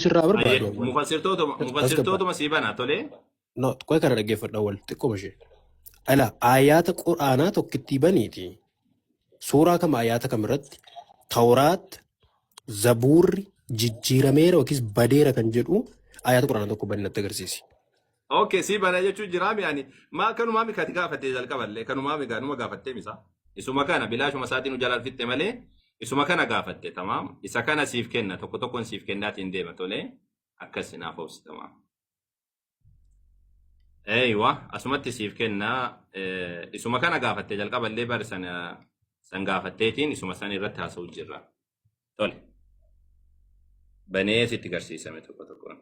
sirraa Ayyee, barbaadu awwal. mufassirtootuma As gabbaadha. mufassirtootuma sii bana tolee. No, qoy kana dhaggeeffadha awwal xiqqoo ishee. Ala aayaata quraanaa tokkittii baniiti. Suuraa kam aayaata kam irratti tawraat zabuurri jijjiirameera yookiis badeera kan jedhu aayaata quraanaa tokko bani natti agarsiisi. Okay, sii bana jechuu jiraa mi ani maa kanumaa mi kati gaafattee jalqaballee kanumaa mi gaanuma gaafattee misa isuma kana bilaashuma isaatiin ujalaal fixxe malee isuma kana gaafatte tamaam isa kana siif kenna tokko tokkoon siif kennaatiin deema tolee akkas naaf obsi tamaam. Eeywa asumatti siif kenna eh, isuma kana gaafatte jalqaballee bari sana san gaafatteetiin isuma san irratti haasa'u jirra tole banee sitti garsiisame tokko tokkoon.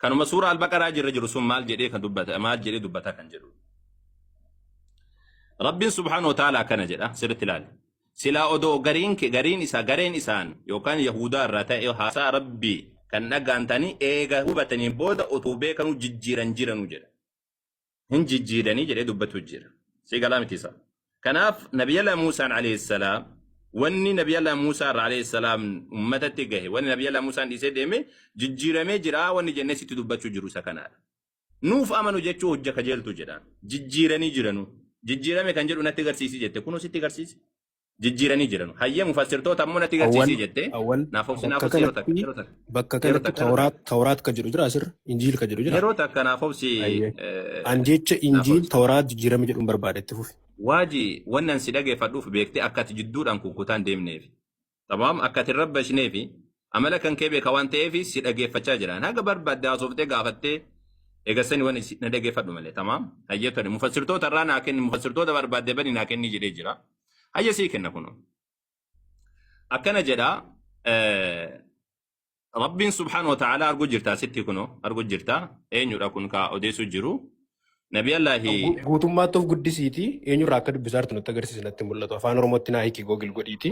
kanuma suura albaqaraa jirra jiru sun maal jedhee kan dubbata maal jedhee dubbata kan jedhu rabbiin subhaanahu wa ta'aala akkana jedha sirritti ilaali silaa odoo gariin ke- gariin isaa gareen isaan yookaan yahuudaa irraa ta'e haasaa rabbii kan dhagaantanii eega hubataniin booda utuu beekanuu jijjiiran jiranu jedha hin jijjiiranii jedhee dubbatu jira. Si galaa miti isaa. Kanaaf Nabiyalaa Muusaan alayhi salaam wanni Nabiyalaa Muusaa irraa alayhi salaam ummatatti gahe wanni Nabiyalaa Muusaan dhiisee deeme jijjiiramee jira wanni jennee sitti dubbachuu jiru isa kanaadha. Nuuf amanu jechuu hojja kajeeltu jedhaan. Jijjiiranii jiranu. Jijjiirame kan jedhu natti garsiisi jette kunoo sitti garsiise. jijjiiranii jiranu. Hayyee mufassirtoota ammoo natti Awwal, garsiisii jettee awwal, naaf obsi naaf bakka obsi yeroo takka kanatti, yeroo takka bakka yeroo kanatti takka yeroo takka tawraat, tawraat ka jedhu jira asirra, injiil ka jedhu jira. yeroo takka naaf obsi Ayyee. eh, An jecha naaf injiil obsi. tawraat jijjiirame jedhuun barbaada itti fufi. Waaji wannan si dhageeffadhuuf beektee akka ati jidduudhaan kukkutaan deemneef. Tamam akka ati hin rabbashneefi Amala kan kee beeka waan ta'eef si dhageeffachaa jiraan. Haga barbaadde haasoftee gaafattee eegassani wani si- na dhageeffadhu malee tamaam. Hayyee tole mufassirtoota irraa naa kenni mufassirtoota barbaadde bani naa kenni jedhee jira. Hayyee sii kenna kunoo. Akkana jedha eh, Rabbiin subhaanahu wa ta'ala arguu jirta asitti kunoo arguu jirta eenyudha kun ka odeessuu jiru. Nabi Allahi Gu- Guutummaatti of guddisiiti eenyurraa akka dubbisaa jirtu nutti agarsiisi natti mul'atu. Afaan Oromootti naa hiiki googil godhiiti.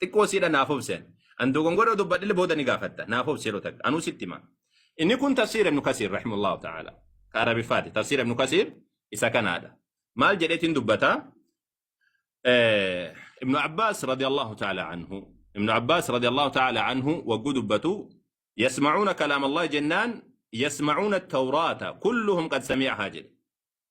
xiqqoo siidha naaf obseen an dogongora dubbadhile booda ni gaafatta naaf obsi yeroo takka anuu sitti hima inni kun tafsiir ibnu kasiir rahimullahu ta'ala ka arabiffaati tafsiir ibnu kasiir isa kanaadha maal jedheetiin dubbata Eh, ibnu abbaas radiyallahu ta'ala anhu ibnu abbaas radiyallahu ta'ala anhu wagguu dubbatu yasma'uuna kalaama allahi jennaan yasma'uuna tawraata kulluhum qad sami'ahaa jedhe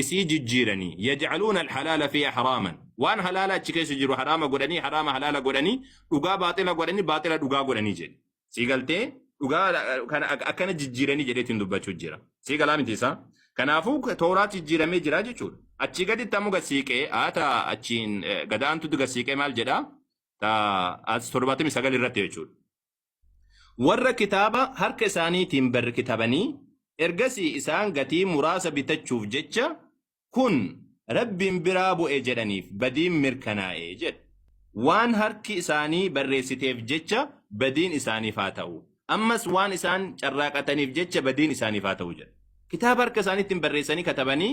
isii jijjiiranii yaj'aluuna alhalaala fiihaa haraaman waan halaala achi keessa jiru haraama godhanii haraama halaala godhanii dhugaa baaxila godhanii baaxila dhugaa godhanii jedhe sii galtee dhugaa kana ak- akkana jijjiiranii jedheetiin dubbachuu jira sii galaa miti isaa kanaafuu tooraat jijjiiramee jira jechuudha achii gaditti ammoo gasiiqee haata achiin eh, gadaantutti gasiiqee maal jedhaa ta as torbaatamii sagal irratti jechuudha Warra kitaaba harka isaaniitiin barrkitabanii ergasii isaan gatii muraasa bitachuuf jecha kun Rabbiin biraa bu'e jedhaniif badiin mirkanaa'e jedhe. Waan harki isaanii barreessiteef jecha badiin isaaniif haa ta'u. Ammas waan isaan carraaqataniif jecha badiin isaaniif haa ta'u jedha. Kitaaba harka isaaniitiin barreessanii katabanii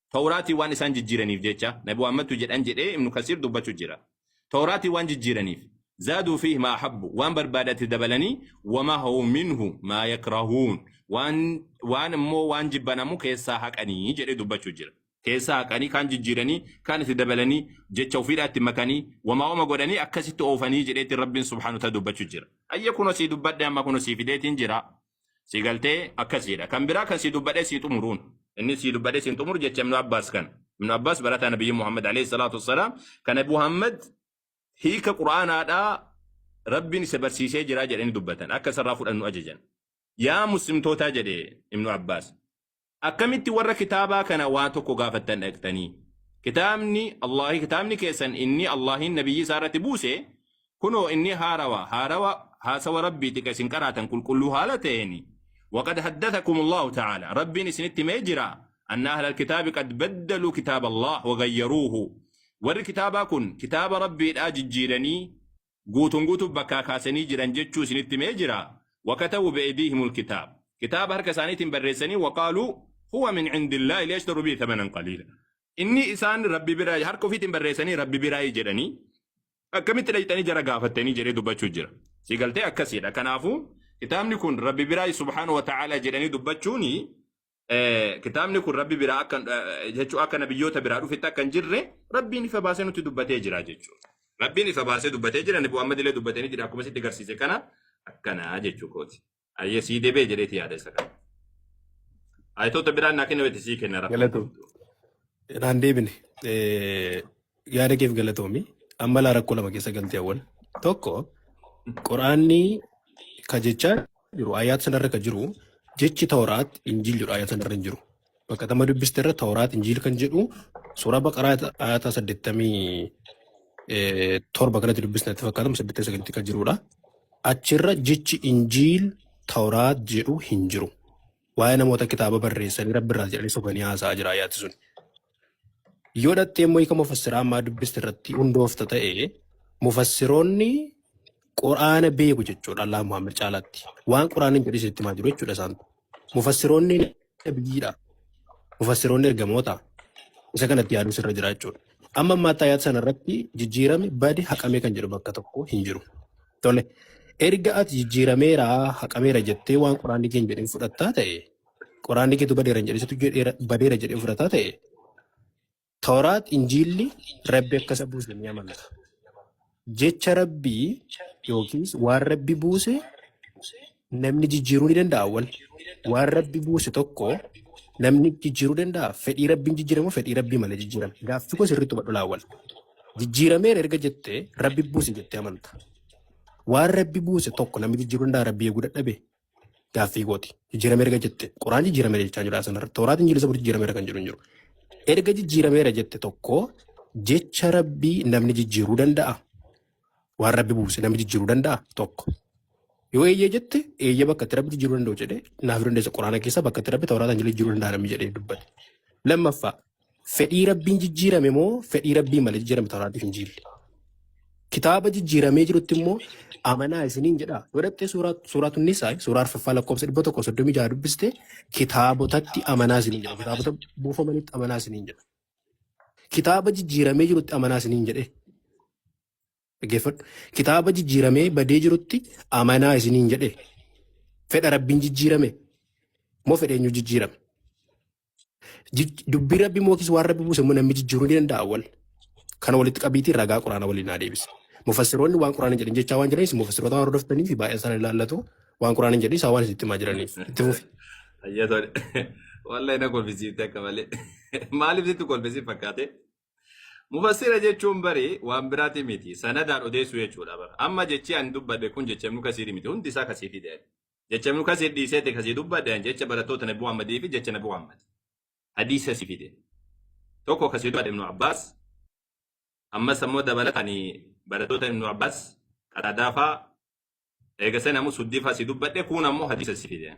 Tawraatii waan isaan jijjiiraniif jecha, Nabi Muhammadtu jedhan jedhee Ibnu Kasiir dubbachu jira. Tawraatii waan jijjiiraniif. Zaaduu fiihi maa habbu, waan barbaadatti dabalanii, wa mahawuu minhu maa yakrahuun, waan waan immoo waan jibban ammoo keessaa haqanii jedhee dubbachu jira. Keessaa haqanii, kaan jijjiiranii, kaan itti dabalanii, jecha ofiidhaa itti makanii, wamaa wama godhanii akkasitti oofanii jedheetiin Rabbiin subhaanahu wa ta'aala dubbachu jira. Hayyee kunoo sii dubbadhee amma kunoo sii fideetiin jira. Si galtee akkas jedha. Kan biraa kan si dubbadhee si xumuruun. Inni si dubbadhee si hin xumuru jecha Ibnu Abbaas kan. Ibnu Abbaas barataa Nabiyyi Muhammad alayhi salaatu wassalaam kan Abu Muhammad hiika Qur'aanaadhaa Rabbiin isa barsiisee jira jedhanii dubbatan. Akka isarraa fudhannu ajajan. Yaa muslimtootaa jedhe Ibnu Abbaas. Akkamitti warra kitaabaa kana waa tokko gaafattan dhaqxanii? Kitaabni Allahi kitaabni keessan inni Allahin nabiyyii isaa irratti buuse kunoo inni haarawa haarawa haasawa Rabbiiti ka isin qaraatan qulqulluu haala ta'eeni. Waqad haddathakum Allahu ta'aala Rabbiin isinitti himee jira anna ahlal kitaabi qad baddaluu kitaaba Allah wa gayyaruuhu. Warri kitaabaa kun kitaaba Rabbiidhaa jijjiiranii guutuun guutuuf bakkaa kaasanii jiran jechuu isinitti himee jiraa? Wakatabu be'ediihimul kitaab. Kitaaba harka isaaniitiin barreessanii waqaaluu huwa min indillaahi liyashtaru bihi thamanan qaliila. Inni isaan Rabbi biraa harka ofiitiin barreessanii Rabbi biraayi jedhanii akkamitti dhayxanii jara gaafattanii jedhee dubbachuu jira. Si galtee akkasiidha. Kanaafuu kitaabni kun Rabbi biraayi subhaanahu wa ta'aalaa jedhanii dubbachuuni eh, kitaabni kun rabbi biraa akka eh, jechuu akka nabiyyoota biraa dhufetti akka hin jirre rabbiin ifa baasee nutti dubbatee jira jechuudha. Rabbiin ifa baasee dubbatee jira nabi Muhammad illee dubbatanii jira akkuma sitti garsiise kana akkanaa jechuu kooti. Ayyee sii deebee jedheeti yaada isa kana. Ayitoota biraan naa kenna weeti sii kenna rakkoon Galatoom. qabdu. Naan deebine. Eh, Yaada keef galatoomi. Amma laa rakkoo lama keessa galtee awwal. Tokko Quraanni ka jechaa jiru ayaat sanarra ka jiru jechi Tawraat Injiil jedhu ayaat sanarra hin jiru. Bakka tama dubbiste irra Tawraat Injiil kan jedhu suuraa Baqaraa ayaata saddeettamii eh, torba kanatti dubbisne itti fakkaatamu saddeettamii sagalitti kan jirudha. Achirra jechi Injiil Tawraat jedhu hin jiru. waa'ee namoota kitaaba barreessanii rabbi irraa jedhanii sobanii haasa'aa jira ayaati sun. Yoo dhattee immoo hiika mufassiraa ammaa dubbiste irratti hundoofta ta'e mufassiroonni quraana beeku jechuudha Allaa Muhammad caalaatti. Waan quraaniin jedhu isinitti himaa jiru jechuudha isaan. Mufassiroonni nabiyyiidha. Mufassiroonni ergamoota. Isa kanatti yaaduu sirra jira jechuudha. Amma ammaatti ayaata sana irratti jijjiirame badi haqamee kan jedhu bakka tokko hin jiru. Tole. Erga ati jijjiirameera, haqameera jettee waan quraanni kee hin jedhin fudhattaa ta'e, quraanni keetu badeera hin jedhin, situ jedheera- badeera jedhee fudhataa ta'e, Tooraat Injiilli Rabbi akka isa buuse ni amanata. Jecha Rabbii yookiis waan Rabbi buuse Namni jijjiiruu ni danda'a wal. Waan rabbi buuse tokko namni jijjiiruu danda'a fedhii rabbiin jijjiiramu fedhii rabbii malee jijjiirame. Gaaffii koo sirriitti hubadhu laa wal. Jijjiirameera erga jettee rabbi buuse jettee amanta. Waan rabbi buuse tokko namni jijjiiruu danda'a rabbi eeguu dadhabe. Gaaffii kooti. Jijjiirameera erga jette quraan jijjiirameera jechaa jira sanarra. Tooraat injiilisa bur jijjiirameera kan jedhu hin jiru. Erga jijjiirameera jette tokko jecha rabbii namni jijjiiruu danda'a. Waan rabbi buuse namni jijjiiruu danda'a tokko. Yoo eeyyee jette eeyyee bakka itti rabbi jijjiiruu danda'u jedhee naaf dandeessa quraana keessa bakka itti rabbi tawraataan jiru jijjiiruu danda'a namni jedhee dubbate. Lammaffaa fedhii rabbiin jijjiirame moo fedhii rabbii malee jijjiirame tawraatiif hin jiille. Kitaaba jijjiiramee jirutti immoo amanaa isiniin jedha. Yoo dhaqxee suuraa suuraa tunnisaa suuraa arfaffaa lakkoofsa dhibba tokko soddomii jaha dubbiste kitaabotatti amanaa isiniin jedha. Kitaabota buufamanitti amanaa isiniin jedha. Kitaaba jijjiiramee jirutti amanaa isiniin jedhee. Dhaggeeffadhu. Kitaaba jijjiiramee badee jirutti amanaa isiniin jedhee. Fedha rabbiin jijjiirame moo fedha eenyu jijjiirame? Jij- Dubbii rabbi moo yookiis waan rabbi buuse immoo namni jijjiiruu ni danda'a wal. Kana walitti qabiitii ragaa quraana waliin haa deebisa. Mufassiroonni waan quraana jedhan jechaa waan jiranis mufassiroota waan hordoftanii fi baay'een isaanii ilaallatu. Waan Quraan hin jedhu isaa waan itti himaa jiraniif. Itti fufi. Ayyaa tole. Wallahi na kolfisiifte akka malee. Maaliif sitti kolfisiif fakkaate? Mufassira jechuun bari waan biraati miti. Sanadaan odeessuu jechuudha bara. Amma jechi ani dubbadhe kun jecha ibnu kasiiri miti. Hundi isaa kasii fide. Jecha ibnu kasiir dhiisee ta'e kasii dubbadhe ani jecha barattoota nabi Muhammadii fi jecha nabi Muhammad. Hadiisa si fide. Tokko kasii dubbadhe ibnu Abbaas. Ammas ammoo dabalata ani barattoota ibnu Abbaas qadaadaafaa eega san ammoo suddifa si dubbadhe kuun ammoo hadiisa si fide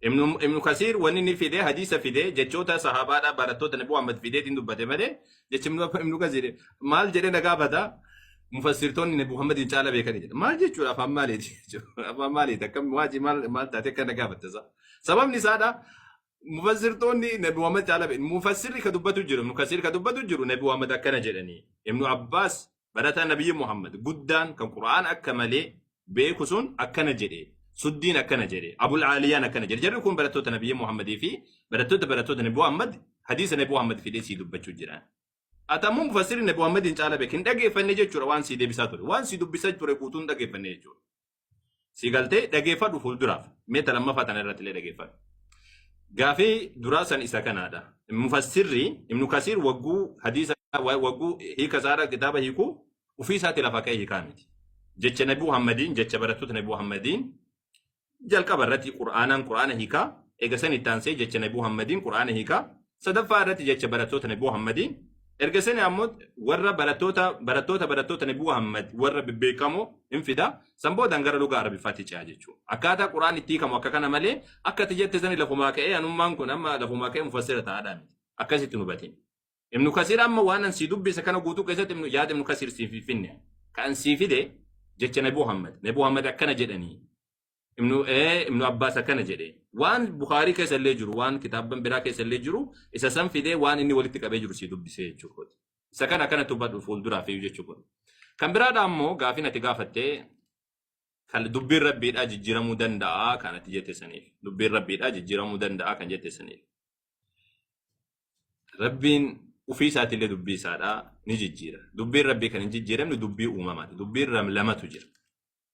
ibnu ibnu kasiir wanni ni fide hadiisa fide jechoota sahaabaadha barattoota nabi muhammad fideetiin dubbate malee jechi ibnu ibnu kasiir maal jedhee na gaafata mufassirtoonni nabi muhammadiin caala beekanii jedha maal jechuudha afaan maaliiti jechuudha afaan maaliiti akkam waajii maal maal taate akka na gaafatta isaa sababni isaadha mufassirtoonni nabi muhammad caala beeku mufassirri ka dubbatu jiru mukassir ka dubbatu jiru nabi muhammad akkana jedhanii ibnu abbaas barataa nabiyyi muhammad guddaan kan qura'aan akka malee beeku sun akkana jedhe suddiin akkana jedhe abul aaliyaan akkana jedhe jarri kun barattoota nabiyyi muhammadii fi barattoota barattoota nabi muhammad hadiisa nabi muhammad fidee sii dubbachuu jiran atamuu mufassirri nabi muhammadiin caala beeku hin dhageeffanne jechuudha waan sii deebisaa ture waan sii dubbisaa ture guutuu hin dhageeffanne jechuudha Si galtee dhageeffadhu fuulduraaf. Mee ta lammaffaa tana irratti illee dhageeffadhu. Gaafii duraa san isa kanaadha. Mufassirri Ibnu Kasiir wagguu hadiisa wa- wagguu hiika isaadha kitaaba hiiku ofii isaati lafa ka'ee hiikaa miti. Jecha Nabi Muhammadiin jecha barattoota Nabi Muhammadiin jalqaba irratti Qur'aanaan Qur'aana hiikaa eega san itti aansee jecha Nabi Muhammadiin Qur'aana hiikaa sadaffaa irratti jecha barattoota Nabi Muhammadii erga sani ammoo warra barattoota barattoota barattoota Nabi Muhammad warra bebbeekamoo hin fida san boodaan gara lugaa Arabiffaatti ce'a jechuudha. Akkaataa Quraan itti hiikamu akka kana malee akka ati jette sani lafumaa ka'ee anummaan kun amma lafumaa ka'ee mufassira ta'aadhaa miti. Akkasitti nu batin. Ibnu Kasiir amma waan an sii dubbise kana guutuu keessatti ibnu- yaada Ibnu Kasiir siif hin finne. Kan sii fide jecha Nabi Muhammad. Nabi Muhammad akkana jedhanii. ibnu ee ibnu abbaas akkana jedhe waan bukaarii keessa illee jiru waan kitaabban biraa keessa illee jiru isa san fidee waan inni walitti qabee jiru sii dubbisee jechuu kooti isa kana akkana tubbadhu fuulduraaf iyyuu jechuu kooti kan biraadha ammoo gaafiin ati gaafatte kan dubbiin rabbiidhaa jijjiiramuu danda'a kan ati jette saniif dubbiin rabbiidhaa jijjiiramuu danda'a kan jette saniif rabbiin ofii isaati illee dubbii isaadhaa ni jijjiira dubbiin rabbii kan hin jijjiiramne dubbii uumamaati dubbiin ram- lamatu jira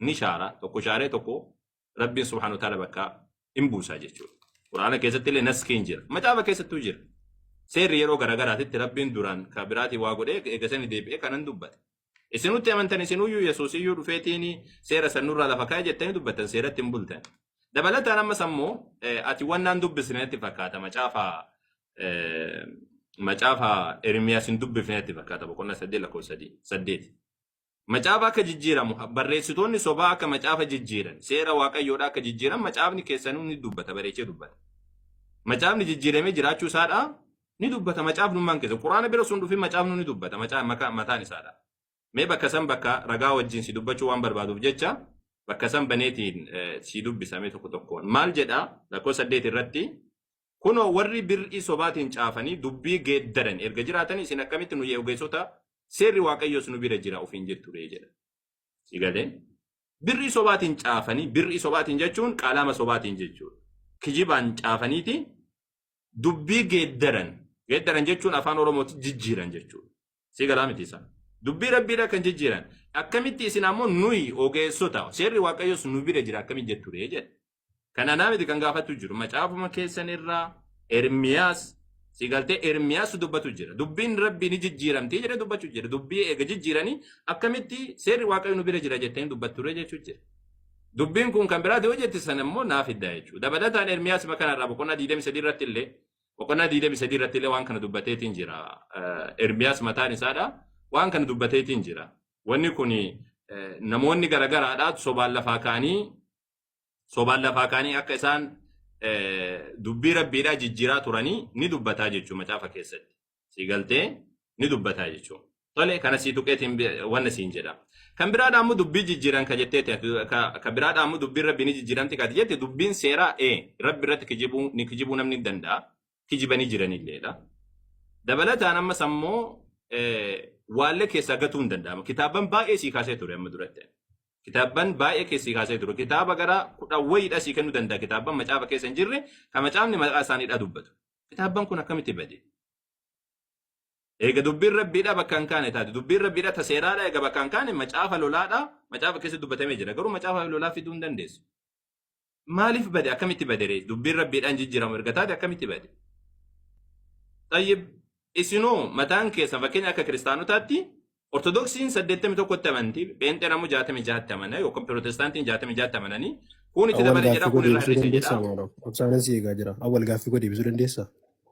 ni shaara tokko shaaree tokko rabbiin subhaanahu wa ta'aala bakka hin buusaa jechuudha. Quraana keessatti illee naskiin jira. Macaafa keessattuu jira. Seerri yeroo garaagaraatitti rabbiin duraan ka biraatii waa godhee eega sani deebi'ee kanan dubbate. Isinutti amantan isinuyyuu Yesuus iyyuu dhufeetiin seera san nurraa lafa kaa'e jettanii dubbattan seeratti hin bultan. Dabalataan ammas ammoo eh, ati waan naan dubbisne natti fakkaata macaafa eh, macaafa Ermiyaas hin dubbifne natti fakkaata boqonnaa saddeet lakkoofsa sadii- saddeeti. Macaafa akka jijjiiramu, barreessitoonni sobaa akka macaafa jijjiiran, seera Waaqayyoodhaa akka jijjiiran macaafni keessanuu ni dubbata, bareechee dubbata. Macaafni jijjiiramee jiraachuu isaadhaa ni dubbata macaafnummaan keessa. Quraana bira sun dhufin macaafnu ni dubbata macaa- maka- mataan isaadhaa. Mee bakka san bakka ragaa wajjin si dubbachuu waan barbaaduuf jecha bakka san baneetiin eh, si dubbisa mee tokko tokkoon. Maal jedha lakkoofsa saddeet irratti Kunoo warri bir'ii sobaatiin caafanii dubbii geeddaran erga jiraatanii isin akkamitti nuyi ogeessota seerri Waaqayyoos nu bira jira ofiin jettu ree jedhan. Si galee? Bir'ii sobaatiin caafanii bir'ii sobaatiin jechuun qaalaama sobaatiin jechuudha. Kijibaan caafaniiti dubbii geeddaran geeddaran jechuun afaan Oromootti jijjiiran jechuudha. Si galaa miti isaa. Dubbii rabbiidha kan jijjiiran. Akkamitti isin ammoo nuyi ogeessota seerri Waaqayyoos nu bira jira akkamitti jettu ree jedhe. Kan anaa miti kan gaafatu jiru. Macaafuma keessan irraa Ermiyaas si galtee Ermiyaas dubbatu jira. Dubbiin rabbii ni jijjiiramti jedhee dubbatu jira. Dubbii eega jijjiiranii akkamitti seerri waaqayyo nu bira jira jettanii dubbatturre jechuu jira. Dubbiin kun kan biraati yoo jette sana immoo naa fidda jechuudha. Dabalataan Ermiyaas ma kanarraa boqonnaa 23 irratti illee boqonnaa 23 irratti illee waan kana dubbateetiin jira. Eh, Ermiyaas mataan isaadha. Waan kana dubbateetiin jira. Wanni kun namoonni garagaraadhaa sobaan lafaa ka'anii sobaan lafaa kaanii akka isaan dubbii rabbiidhaa jijjiiraa turanii ni dubbataa jechuu macaafa keessatti. Sii galtee ni dubbataa jechuu. Tole kana sii tuqeetiin wanna siin jedha. Kan biraadhaa immoo dubbii jijjiiran ka jetteeti. Ka biraadhaa immoo dubbiin rabbii ni jijjiiramti ka jette dubbiin seeraa ee rabbi irratti kijibuu ni kijibuu namni danda'a. kijibanii jiranilleedha. Dabalataan ammas ammoo waallee keessaa gatuu hin danda'amu. Kitaabban baay'ee sii kaasee ture amma duratti. Kitaabban baay'ee keessii kaasee ture. Kitaaba gara kudha wayiidha sii kennuu danda'a. Kitaabban macaafa keessa hin jirre kan macaafni maqaa isaaniidha dubbatu. Kitaabban kun akkamitti bade? Eega dubbiin rabbiidha bakka hin kaane taate. Dubbiin rabbiidha ta seeraadha eega bakka hin kaane macaafa lolaadha. Macaafa keessa dubbatamee jira. Garuu macaafa lolaa fiduu hin dandeessu. Maaliif bade akkamitti badere dubbiin rabbiidhaan jijjiiramu erga taate akkamitti bade? Tayyib isinoo mataan keessan fakkeenya akka kiristaanotaatti ortodoksiin 81tti amanti pheenxeen ammoo 66tti amana yookaan pirootestaantiin 66tti amananii kun itti Awwal dabale jedha gaaffii koo kun irraa deebisuu hir'ise jedha. dandeessaa maaloo? Obsaanan si eegaa jira. Awwal gaaffii koo deebisuu dandeessaa?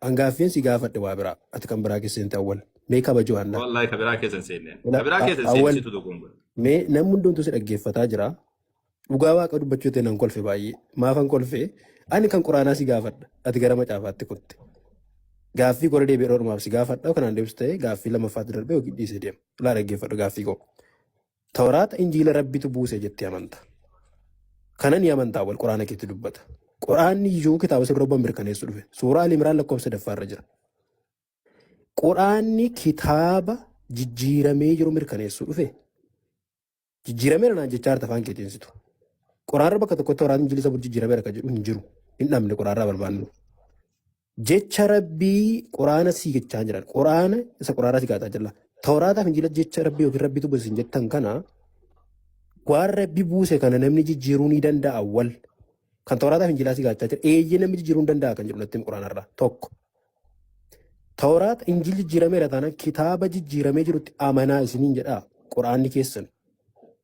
An gaaffiin si gaafadhe waa biraa. Ati kan biraa keessa seente awwal. Mee kabajoo hanna. Wallahi ka biraa keessa hin seenne. Ka Ila- biraa a- keessa hin seenne Awwal situ dogoongora. mee namni hundumtuu si dhaggeeffataa jira. Dhugaa waaqa dubbachuu ta'e nan kolfe baay'ee. Maafan kolfe ani kan quraanaa si gaafadha. Ati gara macaafaatti kutte. Gaaffii kora deebi'ee dhormaaf si gaafadha. Kanaan deebisu ta'e gaaffii lammaffaatti darbee yookiin dhiisee deema. Ilaa dhaggeeffadhu gaaffii koo. Tawraata injiila rabbitu buuse jettee amanta. Kana ni amantaa wal quraana keetti dubbata. Quraanni iyyuu kitaaba sirra obban mirkaneessu dhufe. Suuraa Ali Imraan lakkoofsa sadaffaa irra jira. Quraanni kitaaba jijjiiramee jiru mirkaneessu dhufe. Jijjiirameera naan jechaa jirta afaan keetiin situ. Quraanarra bakka tokkotti Tawraata injiila sabul jijjiirameera kan jedhu hin jiru. Hin dhabne quraanarraa barbaannu. Jecha Rabbii Quraana sii jechaa jiran. Quraana isa Quraanaa si gaataa jira. Tawraataa fi Injiila jecha Rabbii yookiin Rabbii dubbatu isin jettan kana waan Rabbi buuse kana namni jijjiiruu ni danda'a wal. Kan Tawraataa fi Injiilaa si gaachaa jira. Eeyyee namni jijjiiruu ni danda'a kan jedhu natti Quraanarraa. Tokko. Tawraat Injiil jijjiirameera taanaan kitaaba jijjiiramee jirutti amanaa isiniin jedhaa Quraanni keessan.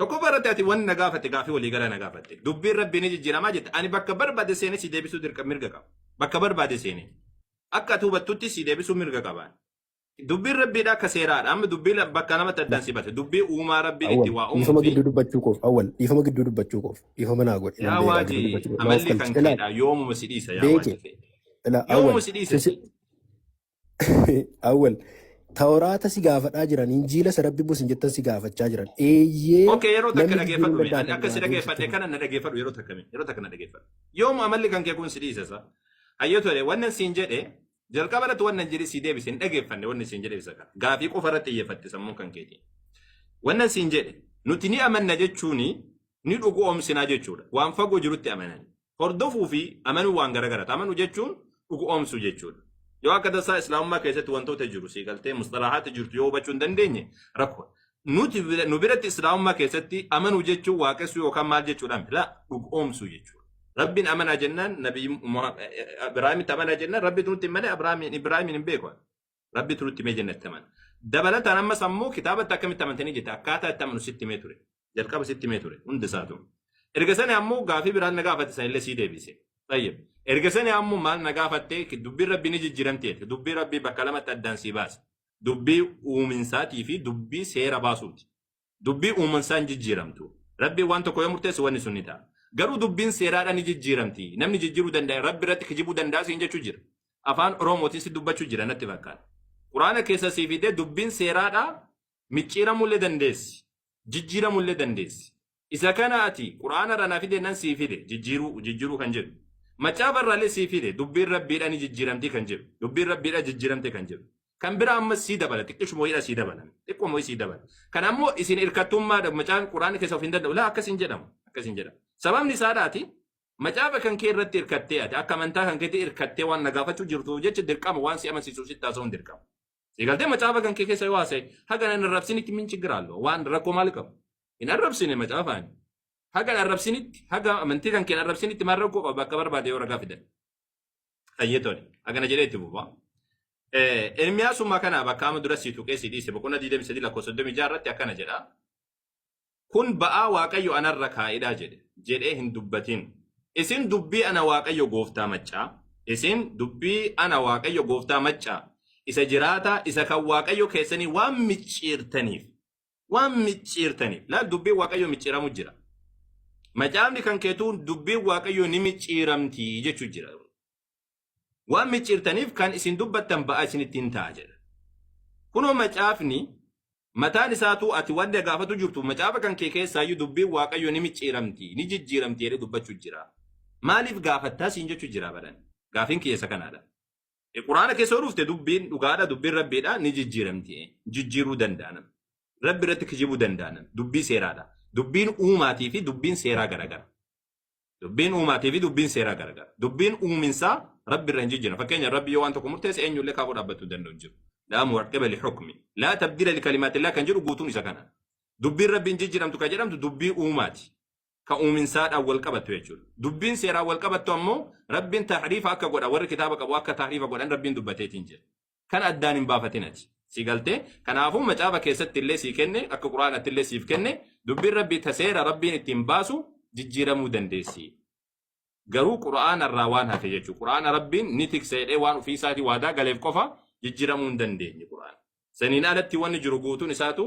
Tokkoffaa irratti ati wanni na gaafatte gaafii waliigalaa na gaafatte. Dubbiin rabbii ni jijjiiramaa jette. Ani bakka barbaade seenee si deebisuu dirqama mirga qaba. Bakka barbaade seenee. Akka ati hubattutti si deebisuu mirga qabaan. Dubbiin rabbiidha akka seeraadha. Amma dubbiin bakka namatti addaan si base. Dubbii uumaa rabbiin itti Awwal waa uumuu dhiifama fi gidduu dubbachuu koof awwal dhiifama gidduu dubbachuu koof dhiifama naa godhe nan yaa beekaa gidduu waajii dubbachuu koof na of amalli kan qalchi ilaal keedha yoomuma si dhiisa yaa beeke waajii kee. ilaa Yoomuma awwal si dhiisa. sisi Awwal tawraata si gaafadhaa jiran injiila isa rabbi busin jettan si gaafachaa jiran eeyyee Okay, yeroo takka namni jijjiiruu dhageeffadhu. danda'a Ani kan akka si biraa deebisitti dhageeffadhe kana na dhageeffadhu yeroo takka mee. Yeroo takka na dhageeffadhu. Yoom amalli kan kee kun si dhiisesa? Hayyoo tole wannan siin jedhe jalqaba irratti wannan jedhe si deebise hin dhageeffanne wanni siin jedhe isa kana. Gaafii qofa irratti xiyyeeffatte sammuu kan keetiin. Wannan siin jedhe nuti ni amanna jechuun ni dhugoomsinaa jechuudha. Waan fagoo jirutti amanani. Hordofuu fi amanuu waan gara garaati. Amanuu jechuun dhugoomsuu jechuudha. Yoo akka tasaa islaamummaa keessatti wantoota jiru sii galtee musxalahaatti jirtu yoo hubachuu hin dandeenye rakkoo. Nuti bira- nu biratti islaamummaa keessatti amanuu jechuun waaqessuu yookaan maal jechuudha miti. Laa dhugoomsuu jechuudha. Rabbiin amanaa jennaan nabi Ibraahimitti amanaa jennaan rabbitu nutti hin malee Ibraahimiin hin beeku. Rabbi turutti mee jennatti amana. Dabalataan ammas ammoo kitaabatti akkamitti amantanii jette akkaataa itti amanu sitti mee ture. Jalqaba sitti mee ture hundi isaa ture. Erga sani ammoo gaafii biraan na gaafate san illee sii deebise. Tayyib. Erga sani ammoo maal na gaafatte dubbiin rabbi ni jijjiiramti jette. Dubbii rabbii bakka lamatti addaan sii baase. Dubbii uuminsaatii fi dubbii seera baasuuti. Dubbii uuman isaa hin jijjiiramtu. Rabbiin waan tokko yoo murteesse wanni sun ni ta'a. Garuu dubbiin seeraadhaan ni jijjiiramti. Namni jijjiiruu danda'e rabbi irratti kijibuu danda'a siin jechuu jira. Afaan Oromootiin si dubbachuu jira natti fakkaata. Quraana keessa sii fidee dubbiin seeraadhaa micciiramuu illee dandeessi. Jijjiiramuu illee dandeessi. Isa kana ati Quraana irraa naa fidee nan sii fide jijjiiruu jijjiiruu kan jedhu. Macaafa irraa illee sii fide dubbiin rabbiidhaa ni jijjiiramti kan jedhu. Dubbiin rabbiidhaa jijjiiramte kan jedhu. Kan biraa ammas sii dabala xiqqishu mooyidha sii dabalan xiqqoo mooyi sii dabala. Kan ammoo isin irkattummaadha macaan quraanni keessa of hin danda'u laa akkas hin jedhamu akkas hin jedhamu. Sababni isaadhaati macaafa kan kee irratti irkattee ati akka amantaa kan keetti irkattee waan nagaafachuu jirtuuf jecha dirqama waan si amansiisuuf sitti haasa'uun dirqama. Eegaltee macaafa kan kee keessa yoo haasa'e haga nan arrabsinitti min chigiraallo waan rakkoo maal qabu. Hin arrabsine macaafaani. Haga hin arrabsinitti haga amantii kan kee hin arrabsinitti maal rakkoo qaba bakka barbaade yoo ragaa fidan. Hayyee tole. Akkana jedhee itti fufa. Eh, Ermiyaasummaa kana bakka amma dura sii tuqee sii dhiise boqonnaa 23 lakkoofsa 36 irratti akkana jedha. Kun ba'aa Waaqayyo anarra kaa'edha jedhe jedhee hin dubbatin. Isin dubbii ana Waaqayyo gooftaa maccaa. Isin dubbii ana Waaqayyo gooftaa maccaa. Isa jiraataa isa kan Waaqayyo keessanii waan micciirtaniif waan micciirtaniif laal dubbiin waaqayyoo micciiramu jira. Macaafni kan keetuun dubbiin waaqayyoo ni micciiramti jechuu jira. Waan micciirtaniif kan isin dubbattan ba'aa isinitti hin ta'a jedha. Kunoo macaafni mataan isaatuu ati wanta gaafatu jirtu macaafa kan kee keessaayyuu dubbiin waaqayyoo ni micciiramti ni jijjiiramti jedhee dubbachuu jira. Maaliif gaafattaa siin jechuu jira baran. Gaafiin kiyya isa kanaadha. E, Quraana keessa yoo dhufte dubbiin dhugaadha, dubbiin rabbiidha ni jijjiiramti. E, Jijjiiruu danda'anan. Rabbi irratti kijibuu danda'anan. Dubbii seeraadha. Dubbiin uumaatii fi dubbiin seeraa garagara. Dubbiin uumaatii fi dubbiin seeraa garagara. Dubbiin uuminsaa rabbi irra hin jijjiiran. Fakkeenya rabbi yoo waan tokko murteesse eenyullee kaafuu dhaabbachuu danda'u hin jiru. Laa muwaqqeba li hukmi. Laa tabdila li kalimaatillaa kan jedhu guutuun isa kana. Dubbiin rabbi hin jijjiiramtu kan jedhamtu dubbii uumaati. ka uuminsaadhaan wal qabattu jechuudha. Dubbiin seeraan wal qabattu ammoo rabbiin tahriifa akka godha warri kitaaba qabu akka tahriifa godhan rabbiin dubbateetiin jira. Kan addaan hin baafatinati. Si galtee kanaafuu macaafa keessatti illee sii kenne akka quraanatti illee siif kenne dubbiin rabbii ta seera rabbiin ittiin baasu jijjiiramuu dandeessi. Garuu quraana irraa waan hafe jechuudha. Quraana rabbiin ni tiksa jedhee waan ofii isaatii waadaa galeef qofa jijjiiramuu hin dandeenye quraana. Saniin alatti wanni jiru guutuun isaatu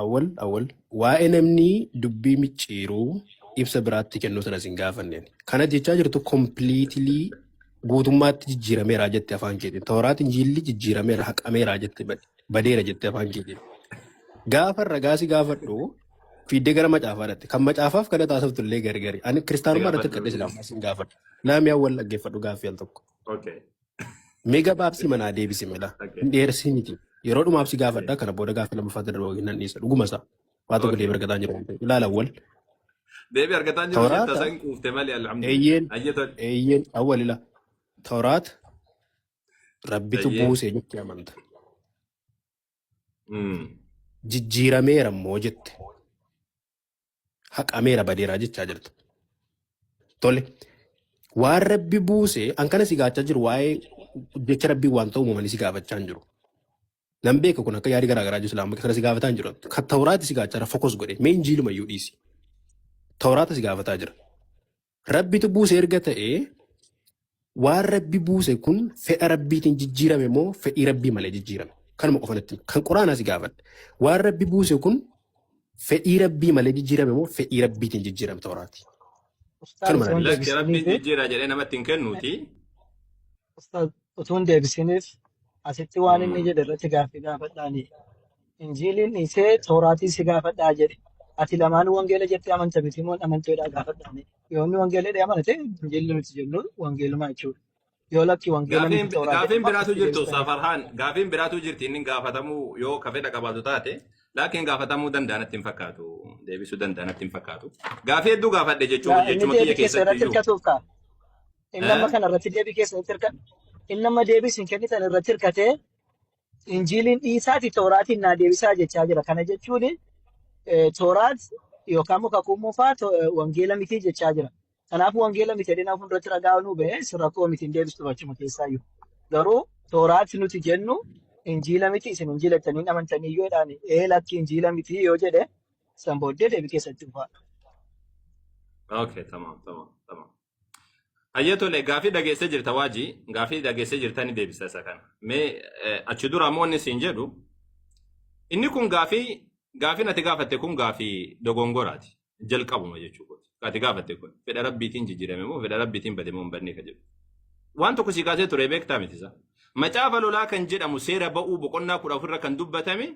Awwal awwal waa'ee namni dubbii micciiruu ibsa biraatti kennuu sana isin gaafanneen. Kana jechaa jirtu completely guutummaatti jijjiirameera jette afaan keetiin. Tooraat injiilli jijjiirameera haqameera jette bade- badeera jette afaan keetiin. Gaafa ragaa si gaafadhu fiiddee gara macaafaa dhatte. Kan macaafaaf kana taasiftu illee gargari. Ani kiristaanummaa irratti Gaafadhu. akkadhe silaa ammaa sin gaafadha. Naamii awwal dhaggeeffadhu gaaffii al tokko. Okay. Mee gabaabsii manaa deebisi mela. Hin dheersii miti. Yeroo dhumaaf si gaafadha kana booda gaafa lammaffaa darba waliin nan dhiisa. Dhuguma isaa. Waa tokko deebi argataan jiru. Ilaala awwal. Deebi argataa jiru jetta Tawraata. san quufte malee alhamdulillah. Eeyyeen. Ayye tol. Eeyyeen awwal ila. Tawraata. Rabbitu Ayye. buusee jettee amanta. Mm. Jijjiirameera immoo jette. haqameera badeeraa jechaa jirta. Tole waan rabbi buuse an kana si gaachaa jiru waa'ee jecha rabbii waan ta'u uumamanii si gaafachaa hin jiru. Nan beeka kun akka yaadi garaa garaa jiru amma kana si gaafataa hin jiru. Kan tawraati si gaachaa jira fokos godhe mee injiiluma iyyuu dhiisi. Tawraata si gaafataa jira. Rabbitu buuse erga ta'ee waan rabbi buuse kun fedha rabbiitiin jijjiirame moo fedhii rabbii malee jijjiirame kanuma qofa natti kan quraanaa si gaafadhe waan rabbi buuse kun fedhii rabbii malee jijjiirame moo fedhii rabbiitiin jijjiirame tooraati Ustaaz kanuma natti Wanti lakki rabbiin jijjiira jedhee namatti hin kennuuti Ustaz, utuu hin deebisiniif asitti waan inni jedhe irratti gaaffii gaafadhaani. Injiiliin dhiisee tooraatii si gaafadhaa jedhe. Ati lamaan wangeela jettee amanta miti moo amanteedhaa gaafadhaani. Yoo inni wangeela jedhee amane ta'e injiilli nuti jennu wangeeluma jechuudha. Yoo lakki wangeela Gaafiin miti tooraa jedhe gaafiin immoo biraatu akkasitti jirtu deebisuu Ustaz danda'a. Farhaan gaafiin biraatu jirti inni gaafatamuu yoo ka fedha qabaatu taate laakiin gaafatamuu danda'a natti hin fakkaatu deebisuu danda'a natti hin fakkaatu gaafii hedduu gaafadhe jechuma Gaa inni jechuma kiyya deebii kee keessatti seeratti iyyuu hirkatuuf ka'a. Inni amma Eh? kana irratti deebii keessa itti hirkate. Inni amma deebii isin kennitan irratti hirkatee injiiliin dhiisaati tooraatiin naa deebisaa jechaa jira. Kana jechuun eh, tooraat yookaan immoo kakuu moofaa to- eh, wangeela mitii jechaa jira. Kanaaf wangeela miti jedhee nama fuulduratti ragaa nuu ba'ee si rakkoo miti hin deebistu achuma keessaa iyyuu. Garuu tooraat nuti jennu injiila miti isin injiila jettanii amantanii yoo jedhaan ee lakki injiila miti yoo jedhe san booddee deebii keessatti dhufaa. Okay, tamam, tamam, tamam. Ayya tole gaafii dhageessee jirta waajii gaafii dhageessee jirta ni deebisa isa kana. Mee eh, achi dura ammoo inni siin jedhu inni kun gaafii gaafiin ati gaafatte kun gaafii dogongoraati jalqabuma jechuu kooti. Ka Ati gaafatte kun fedha rabbiitiin jijjiirame moo fedha rabbiitiin bade moo hin badne ka jedhu. Waan tokko sii kaasee ture beektaa miti isaa. Macaafa lolaa kan jedhamu seera ba'uu boqonnaa kudha ofirra kan dubbatame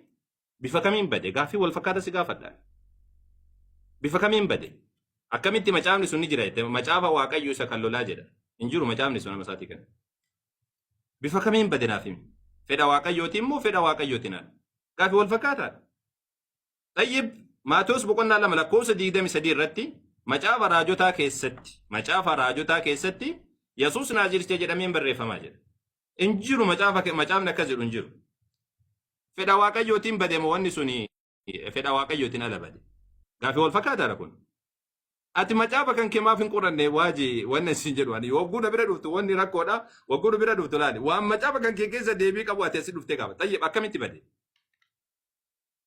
bifa kamiin bade gaaffii wal fakkaata si gaafadha bifa kamiin bade akkamitti macaafni sun ni jira jette macaafa waaqayyo isa kan lolaa jedha hin jiru macaafni sun nama isaatii kana bifa kamiin bade naaf himi fedha waaqayyootiin moo fedha waaqayyootiin ala gaaffii wal fakkaataa Tayyib Maatewos boqonnaa lama lakkoofsa 23 irratti macaafa raajotaa keessatti macaafa raajotaa keessatti Yesuus Naaziricha jedhameen barreeffamaa jira. Hin jiru macaafa ke- macaafni akkas jedhu hin jiru. Fedha waaqayyootiin bade moo wanni suni eh, fedha waaqayyootiin ala bade. Gaafii wal fakkaataadha kun. Ati macaafa kan kee maaf hin qoranne waaji wanna isin jedhu ani wagguu na bira dhuftu wanni rakkoodha wagguu na bira dhuftu laali waan macaafa kan kee keessa deebii qabu ati asi dhuftee gaafa tayyib akkamitti bade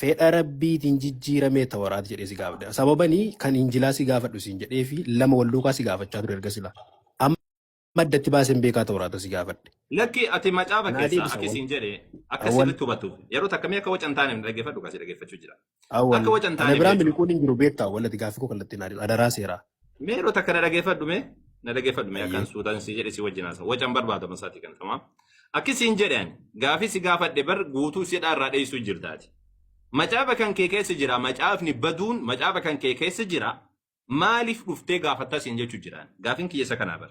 Fedha Rabbiitiin jijjiiramee Tawraat jedhee si gaafadheera. Sababani kan Injilaa si gaafadhu siin jedhee fi lama wal duukaa si gaafachaa ture erga silaa. Amma addatti baaseen beekaa Tawraata si gaafadhe. Lakki ati macaafa Naa keessaa deebisa akki wal siin jedhe akka awwal sirritti hubattuuf yeroo takka mee akka waca hin taaneef na dhaggeeffadhu kaa si dhaggeeffachuu jira. awwal Akka waca hin ana taaneef biraa jechuun miliquun hin jiru beektaa awwal ati gaaffii koo kallattiin naa deebisa adaraa seeraa. Mee yeroo takka na dhageeffadhu mee na dhageeffadhu mee akkan Ayyee. suutaan si jedhe si wajjin haasa wacan barbaadama isaatii kan tamaa. Akki siin jedhan gaafii si gaafadhe bar guutuu si dhaarraa dheessuu jirtaati. Macaafa kan kee keessa jira macaafni baduun macaafa kan kee keessa jira maaliif dhuftee gaafattaa siin jechuu jiraan gaafin kiyya isa kanaa bar.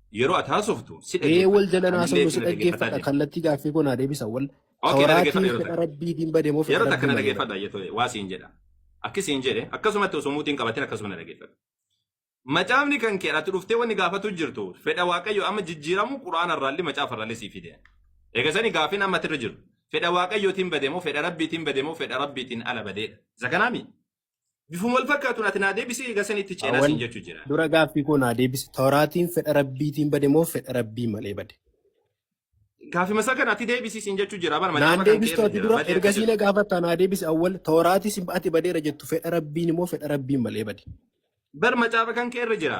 Yeroo ati haasoftu si Ee dhageeffadha. wal jalan Anillee haasofnu si isin dhaggeeffadha dhaggeeffadha jee. kallattii gaaffii koo naa deebisa wal ka Okay, na waraatii dhaggeeffadha yeroo fedha takka. rabbii diin bade moo fedha Yeroo takka rabbii na malee bade. dhaggeeffadha jettu waa siin jedha. Akki siin jedhe akkasumatti osoo muutiin qabatin akkasuma na dhaggeeffadha. Macaafni kan kee ati dhuftee wanni gaafatu jirtu fedha waaqayyo amma jijjiiramu quraana irraallee macaafa irraallee sii fide. Egaa sani gaaffiin amma irra jiru fedha waaqayyootiin bade moo fedha rabbiitiin bade moo fedha rabbiitiin ala badeedha. Isa kanaami Bifuma wal fakkaatuun ati naa deebisi egaa sanii itti ceenaa Awwal siin jechuu jira. dura gaaffii koo naa deebisi. Tawraatiin fedha Rabbiitiin bade moo fedha Rabbii malee bade? Gaafima isaa kana ati deebisi siin jechuu jira. Bar Naan macaafa kan deebistu keerra ati jira. dura Badee akka ergasii jedhu. na gaafatta naa deebisi awwal Tawraatis ati badeera jettu fedha Rabbiin moo fedha Rabbiin malee bade? Bar macaafa kan keerra jira.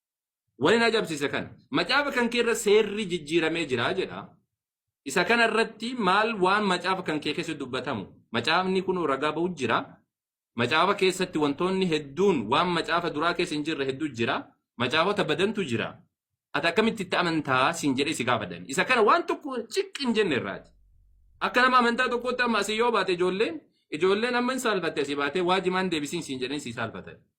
Wani na ajabsiise kana. Macaafa kan kee irra seerri jijjiiramee jira jedha. Isa kana irratti maal waan macaafa kan kee keessa dubbatamu? Macaafni kun ragaa ba'u jira. Macaafa keessatti wantoonni hedduun waan macaafa duraa keessa hin jirre hedduu jira. Macaafota badantu jira. Ati akkamitti itti amantaa siin jedhee si gaafatan. Isa kana waan tokko ciqqi hin jenne irraati. Akka nama amantaa tokkootti amma asii yoo baate ijoolleen ijoolleen amma hin saalfatte asii baatee waajimaan deebisiin siin jedhanii si saalfatan.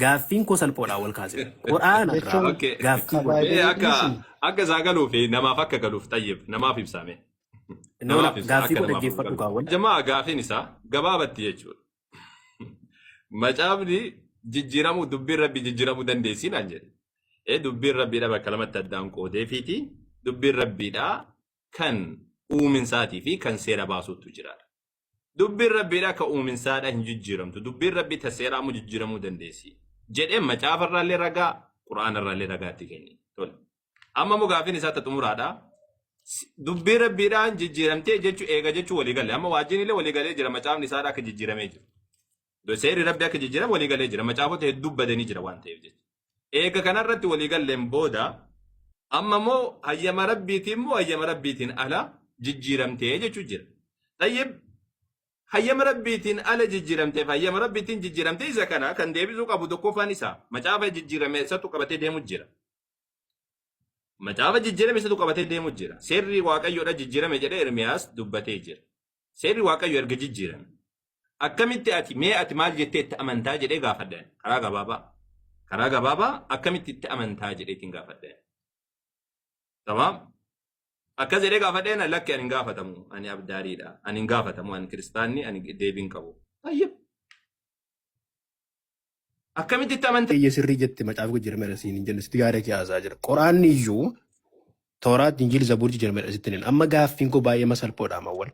Gaaffiin koo salphoodha wal kaasee. Qur'aana irraa Jechuun Okay. gaaffii Mee godhe. Baay'ee akka dhiisi. akka isaa galuu fi namaaf akka galuuf xayyib namaaf ibsaame. Nola Namaaf ibsa gaaffii akka koo namaaf dhaggeeffadhu galu. kaawwan. Jamaa gaafiin isaa gabaabatti jechuudha. Macaafni jijjiiramuu dubbiin rabbi jijjiiramuu dandeessii naan jedhe. Ee dubbiin rabbiidha bakka lamatti addaan qoodee fiiti dubbiin rabbiidha kan uuminsaatii fi kan seera baasuutu jira. Dubbiin Rabbiidha akka uuminsaadha hin jijjiiramtu. Dubbiin Rabbii ta seeraa immoo jijjiiramuu dandeessi. Jedhee macaafa irraallee ragaa, Qur'aana irraallee ragaa itti kenni. Tole. Amma immoo gaaffiin isaa ta xumuraadha. S- Dubbii Rabbiidhaan jijjiiramtee jechuu eega jechuu walii galle. Amma waajjin illee walii galee jira macaafni isaadha akka jijjiiramee jiru. Seerri Rabbi akka jijjiiran walii galee jira. Macaafota hedduu badanii jira waan ta'eef jecha. Eega kanarratti walii galleen booda amma immoo hayyama Rabbiitiin immoo hayyama Rabbiitiin ala jijjiiramtee jechuu jira. Tayyib hayyama Rabbiitiin ala jijjiiramteef hayyama Rabbiitiin jijjiiramtee isa kana kan deebisuu qabu tokkoffaan isa macaafa jijjiirame isatu qabatee deemu jira. Macaafa jijjiirame isatu qabatee deemu jira. Seerri Waaqayyoodha jijjiirame jedhee Ermiyaas dubbatee jira. Seerri Waaqayyo erga jijjiirame. Akkamitti ati mee ati maal jettee itti amantaa jedhee gaafadheen karaa gabaabaa. Karaa gabaabaa akkamitti itti amantaa jedheetiin gaafadheen. Tamam. Akkas jedhee gaafadheen lakki ani hin gaafatamu ani abdaariidha ani hin gaafatamu ani kiristaanni ani deebiin qabu. Tayyib. Akkamitti itti amanta? Eeyyee sirrii jette macaafa jijjiirameera siin hin jenne sitti gaarii kee haasaa jira. Qoraanni iyyuu tooraat injiil zabuur jijjiirameera sitti hin amma gaaffiin koo baay'ee masalphoodha amawwan.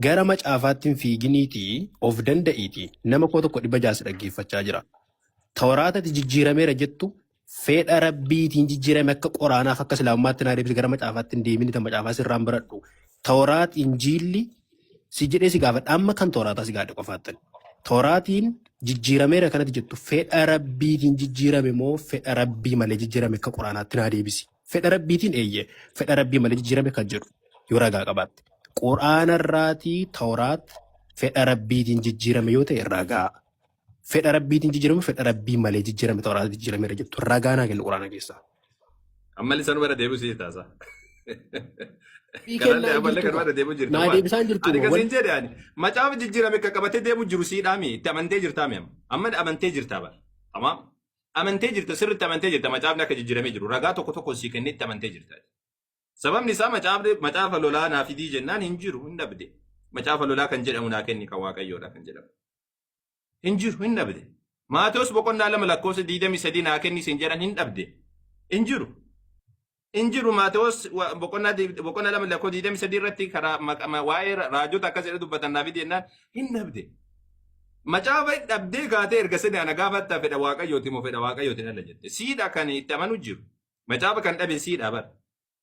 Gara macaafaatti hin fiiginiitii of danda'iitii nama koo tokko dhibba jaasi dhaggeeffachaa jira. Tooraatati jijjiirameera jettu Feedha Rabbiitiin jijjiirame akka qoraanaaf akka islaamummaatti naa deebise gara macaafaatti hin deemini ta macaafaa sirraan baradhu. Tooraat injiilli si jedhee si gaafadha amma kan tooraataa si gaadhe qofaattan. Tooraatiin jijjiirameera kanatti jettu fedha Rabbiitiin jijjiirame moo fedha Rabbii malee jijjiirame akka qoraanaatti naa deebisi. Fedha Rabbiitiin eeyyee fedha Rabbii malee jijjiirame kan jedhu yoo ragaa qabaatte. Qoraanarraatii tooraat fedha Rabbiitiin jijjiirame yoo ta'e ragaa. Fedha rabbiitiin jijjiirame fedha rabbii malee jijjiirame ta'uu irraa jijjiirameera jettu ragaa naa kennu quraana keessaa. Ammallee sanuma irra deebi'u si taasa. Ii Kanallee kennaa ammallee jirtu kanuma irra deebi'u jirta naa waan. deebisaan jirtu Ani kan wal siin jedhe ani macaafa jijjiirame akka qabatee deemu jiru siidhaami itti amantee jirtaa mi'am. Amma amantee jirtaa bara. Tamaam. Amantee jirta sirriitti amantee jirta macaafni akka jijjiiramee jiru ragaa tokko tokko sii kennee itti amantee jirta. Sababni isaa macaafni macaafa lolaa naa fidii jennaan hin jiru hin dhabde. Macaafa lolaa kan jedhamu naa kenni kan waaqayyoodha kan jedhamu. Hin jiru hin dhabde. Maatewos boqonnaa lama lakkoofsa 23 naa kenni siin jedhan hin dhabde. Hin jiru. Hin jiru Maatewos wa- boqonnaa di- boqonnaa lama lakkoofsa 23 irratti karaa maqa- ma- waa'ee ra- raajota akkas jedhe dubbatan naa fidi jennaan hin dhabde. Macaafa hin dhabdee kaatee erga sani ana gaafatta fedha waaqayyooti moo fedha waaqayyooti ala jette. Siidha kan itti amanu jiru. Macaafa kan dhabe siidha bara.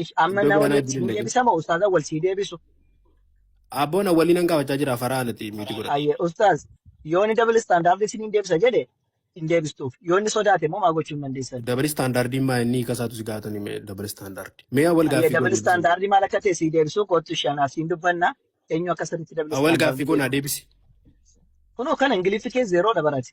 Ish, amma Iddoo na biraanaa waliin itti sii hin deebisu. deebisama ustaaza wal sii deebisu Abboon awwaliin an gaafachaa jira faraa anati miiti godhadhu. ayye ustaaz yoo inni dabal istaandaardi isin hin deebisa jedhe hin deebistuuf yoo inni sodaate immoo maa gochuu hin dandeessan Dabal istaandaardiin maa inni hiika isaatu si gaafatan mee dabal istaandaardi. Mee awwal ayye gaaffii koo dabal deebisuu. istaandaardi maal akka ta'e sii deebisuu kootu shan asiin dubbanna eenyu akka sirriitti dabal Awwal gaaffii istaandaardi koo naa beeku deebisi. kunoo kana ingiliffi kee zeeroodha barate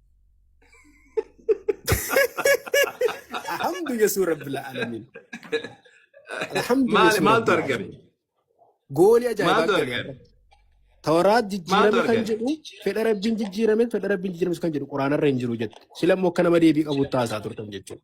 Alhamdu Yesuus Rabbil Aalamiin. Alhamdu Maal- Yesuus maaltu Rabbil argame? Aalamiin. Goolii ajaa'ibaa Maaltu argame. argame? Tawraat Maaltu jijjiirame kan argame? jedhu fedha rabbiin jijjiirame fedha rabbiin jijjiirame kan jedhu quraanarra hin jiru jette. Sila immoo akka nama deebii qabu taasaa turtan jechuudha.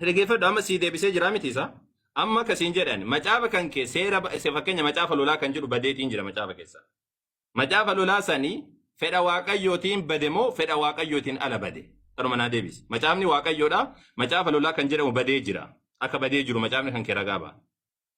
Dhageeffadhu amma sii deebisee jira miti isaa. Amma akka siin jedhan macaafa kan kee seera ba- se- fakkeenya macaafa lolaa kan jedhu badeetiin jira macaafa keessa. Macaafa lolaa sanii fedha waaqayyootiin bade moo fedha waaqayyootiin ala bade? Kanuma naa deebisi. Macaafni waaqayyoodha. Macaafa lolaa kan jedhamu badee jira. Akka badee jiru macaafni kan kee ragaa ba'a.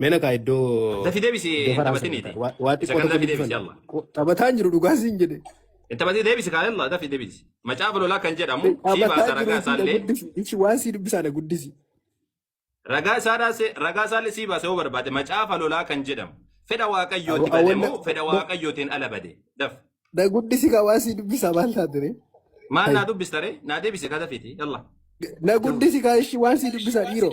Mena kaa iddoo Dafi deebisi iddoo hin faraa sana taphatiniiti. kaa. Waa waa Isa xiqqoo kan tokko dafi jibbisuu deebisi danda'a. yalla. Qo- Taphataan jiru dhugaa siin jedhe. Hin taphatii deebisi kaa yalla dafi deebisi. Macaafa lolaa kan jedhamu sii Taphataa baasa jiru ragaa itti na isaallee guddisi. Ichi waan sii dubbisaa na guddisi. ragaa isaadhaa se- ragaa isaallee sii baasa yoo barbaade macaafa lolaa kan jedhamu fedha waaqayyooti Awa- bade awanna- moo fedha waaqayyootiin ala bade daf Na guddisi kaa waan sii dubbisaa maal taate ree? maal Hai. naa dubbistare naa deebisi kaa dafiiti yalla. Na guddisi kaa ishi waan sii dubbisaa dhiiroo.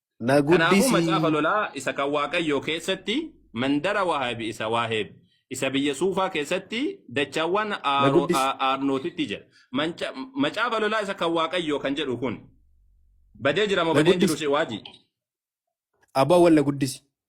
Na Kanaafuu guddisi. macaafa lolaa isa kan Waaqayyoo keessatti mandara Waaheb isa Waaheb isa biyya Suufaa keessatti dachaawwan Na Aaro- guddisi. A- Aarnootitti jedha. Manca- Macaafa lolaa isa kan Waaqayyoo kan jedhu kun badee jira moo Na badee hin jiru guddisi. si waajii? Aboo awwal na guddisi.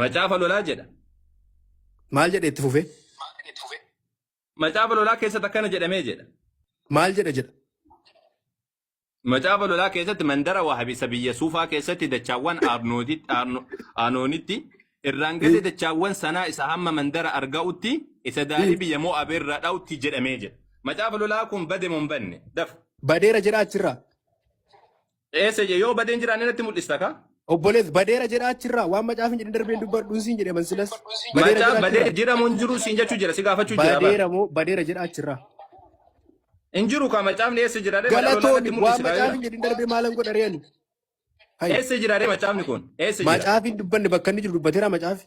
Macaafa lolaa jedha. Maal jedhe itti fufee? Macaafa lolaa keessatti akkana jedhamee jedha. Maal jedha jedha? Macaafa lolaa keessatti mandara wahabisa biyya suufaa keessatti dachaawwan Aarnooditti- Aarno- Aanoonitti irraan gadee dachaawwan sanaa isa hamma mandara arga'utti isa daarii biyya Mo'aab irra dha'utti jedhamee jedha. Macaafa lolaa kun bade moo hin banne? Dafa. Badeera jedha achirraa. Eessa je yoo badeen jiraanne natti mul'ista ka? Obbolees badeera jedha achirraa waan macaafni jedhin darbeen dubbadhuun siin jedhe mansilas badeera Macaa jedha badee achirraa jiramu hin jiru siin jechuu jira si gaafachuu jira bar. badeera moo badeera jedha achirraa Hin jiru ka macaafni eessa jira ree madaalolaa natti galatoomi waan mul'isi kaayira. macaafni jedhin darbee maalan godha re'ani hayya Eessa jira ree macaafni kun? Eessa jira? macaafni dubbanne bakka inni jiru dubbateera macaafi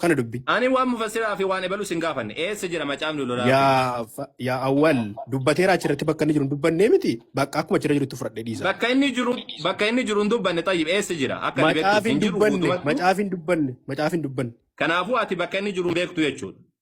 kana dubbi Ani waan mufassiraa fi waan ebalu sin gaafanne. Eessa jira macaafni lolaa fi yaa fa- yaa awwal dubbateera achirratti bakka inni jiru hin dubbannee miti bakka akkuma achirra jirutti fudhadhee dhiisa bakka inni jiru bakka inni jiru hin dubbanne xayyib eessa jira akka ati beektuuf macaaf hin hin jiru dubbanne guutumattu macaaf hin dubbanne macaaf hin dubbanne kanaafuu ati bakka inni jiru hin beektu jechuudha.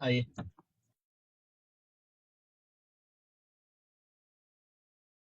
Aye.